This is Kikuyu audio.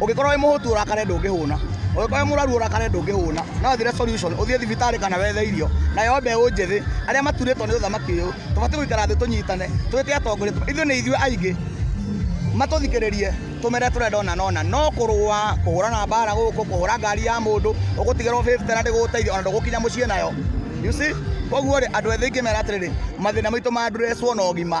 ũngĩkorwo wĩ mũhũtu ũrakare ndũngĩhũna ũngĩkorwo wĩ mũrwaru ũrakare ndũngĩhũna no thire solution ũthiĩ thibitarĩ kana wethe irio nayo mbeũ njĩthĩ arĩa maturĩtwo nĩ ũthamaki ũyũ tũbatiĩ gũikara thĩ tũnyitane twĩte atongoria ithuĩ nĩ ithuĩ aingĩ matũthikĩrĩrie tũmere tũrenda ona nona no kũrũa kũhũrana mbara gũkũ kũhũra ngari ya mũndũ ũgũtigĩrwo fifty na ndĩgũgũteithia ona ndũgũkinya mũciĩ nayo you see koguo rĩ andũ ethĩ ingĩmera atĩrĩrĩ mathĩna maitũ mandreswo na ũgima